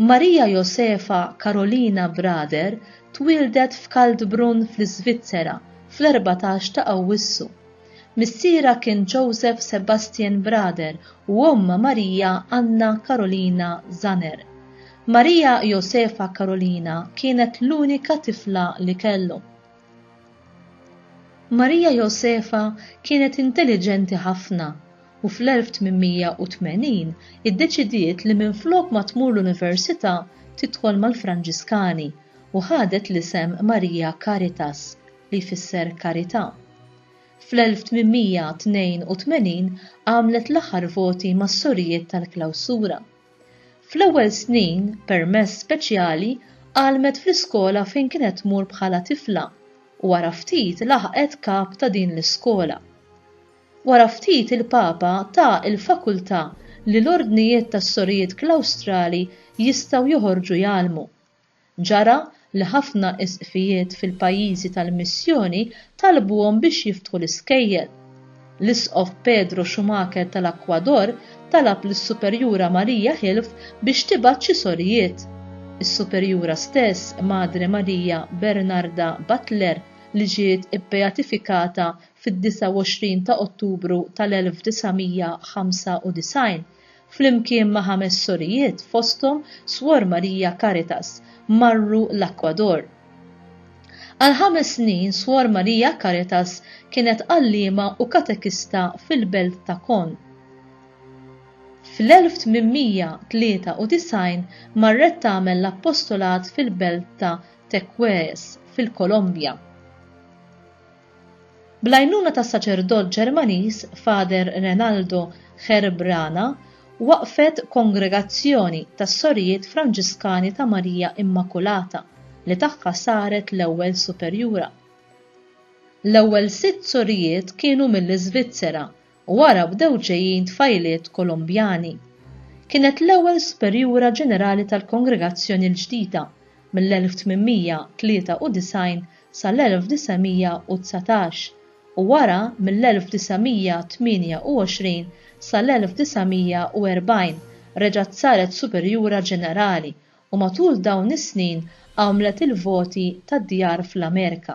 Maria Josefa Karolina Brader twieldet f'Kaldbrunn fl-Iżvizzera fl-erbatax ta' Awwissu. Missierha kien Joseph Sebastian Brader u ommha Maria Anna Karolina Zanner. Maria Josefa Karolina kienet l-unika tifla li kellu. Marija Josefa kienet intelliġenti ħafna u fl-1880 iddeċidiet li minflok ma tmur l-università tidħol mal-Franġiskani u ħadet l-isem Maria Caritas, li jfisser Karità. Fl-1882 għamlet l-aħħar voti mas-Sorijiet tal-Klawsura. Fl-ewwel snin, permess speċjali, għallmet fl-iskola fejn kienet tmur bħala tifla u wara ftit laħqet kap ta' din l-iskola. Wara ftit il-Papa ta l-fakultà li l-ordnijiet tas-sorijiet Klawstrali jistgħu joħorġu jgħallmu. Ġara li ħafna Isqfijiet fil-pajjiżi tal-missjoni talbuhom biex jiftħu l-iskejjel. L-Isqof Pedro Schumacher tal-Ekwador talab lis-Superjura Maria Hilf biex tibgħat xi sorijiet. Is-Superjura stess, Madre Maria Bernarda Butler, li ġiet ibbeatifikata fid-29 ta' Ottubru tal-1995, flimkien ma' ħames sorijiet fosthom Swor Maria Caritas, marru l-Akwador. Għal ħames snin Swor Maria Caritas kienet għalliema u katekista fil-belt ta' Con. Fl-1893 marret tagħmel l-appostolat fil-belt ta' Tequées, fil-Kolombja. Bl-għajnuna tas-saċerdot Ġermaniż Father Renaldo Cherbrana waqqfet kongregazzjoni tas-Sorijiet Franġiskani ta' Marija Immakulata li tagħha saret l-ewwel superjura. L-ewwel sitt sorijiet kienu mill-Iżvizzera u wara bdew ġejjin tfajliet Kolumbjani. Kienet l-ewwel superjura ġenerali tal-kongregazzjoni l-ġdida mill-1893 sal-1919 u wara mill-1928 sal-1940 reġgħet saret superjura ġenerali u matul dawn is-snin għamlet il-voti tad-djar fl-Amerika.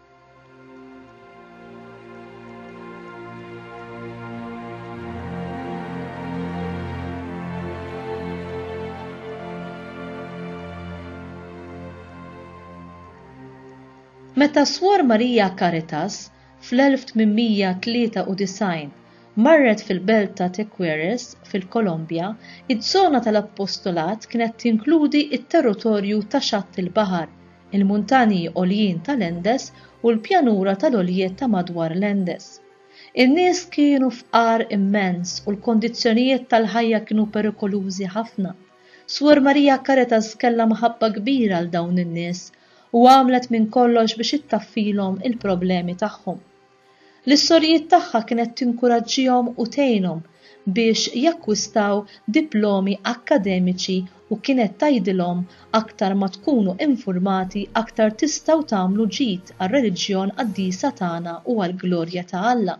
Meta Swar Marija Caritas fl-1893 marret fil-belt ta' Tequeres fil-Kolombja, iż-żona tal-appostolat kienet tinkludi t-territorju ta' xatt il-baħar il-muntanji għoljin tal-Andes u l-pjanura tal-għoljiet ta' madwar l-Andes. In-nies kienu fqar immens u l-kondizzjonijiet tal-ħajja kienu perikolużi ħafna. Suor Maria Caritas kellha mħabba kbira għal dawn in-nies u għamlet minn kollox biex ittaffilhom il-problemi tagħhom. L-istorijiet tagħha kienet tinkuraġġihom u tgħinhom biex jakkwistaw diplomi akkademiċi u kienet tgħidilhom aktar ma tkunu infurmati aktar tistgħu tagħmlu ġid għar-reliġjon qaddisa tagħna u għall-glorja ta' Alla.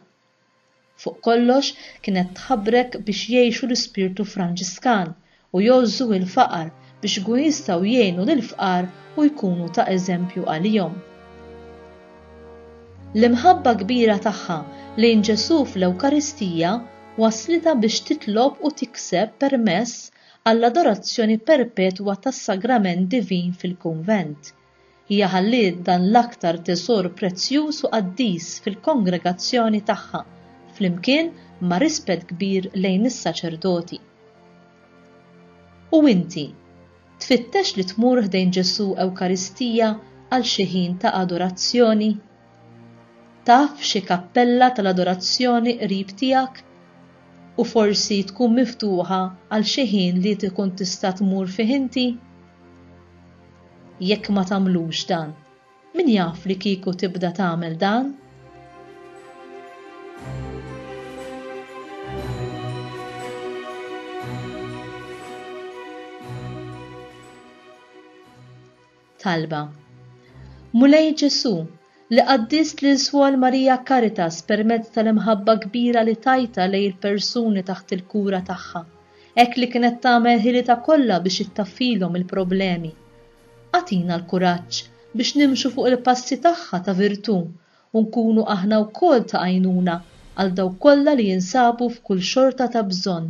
Fuq kollox kienet tħabrek biex jgħixu l-ispirtu Franġiskan u jgħożżu l-faqar biex ikunu jistgħu jgħinu lill-fqar u jkunu ta' eżempju għalihom. L-imħabba kbira tagħha lejn Ġesù fl-Ewkaristija wasslitha biex titlob u tikseb permess għall-adorazzjoni perpetwa tas-Sagrament Divin fil-kunvent, Hija ħalliet dan l-aktar tesor prezzjuż u qaddis fil-kongregazzjoni tagħha, flimkien ma' rispett kbir lejn is-saċerdoti. U inti? Tfittex li tmur ħdejn Ġesù Ewkaristija għal xi ħin ta' adorazzjoni? Taf xi kappella tal-adorazzjoni qrib tiegħek? U forsi tkun miftuħa għal xi ħin li tkun tista' tmur fih inti? Jekk ma tagħmlux dan, min jaf li kieku tibda tagħmel dan? Talba. Mulej Ġesù, li qaddist lil Suor Marija Caritas permezz tal-imħabba kbira li tajtha lejn il-persuni taħt il-kura tagħha, hekk li kienet tagħmel ħilitha kollha biex ittaffilhom il-problemi. Agħtina l-kuraġġ biex nimxu fuq il-passi tagħha ta' virtù u nkunu aħna wkoll ta' għajnuna għal dawk kollha li jinsabu f'kull xorta ta' bżonn.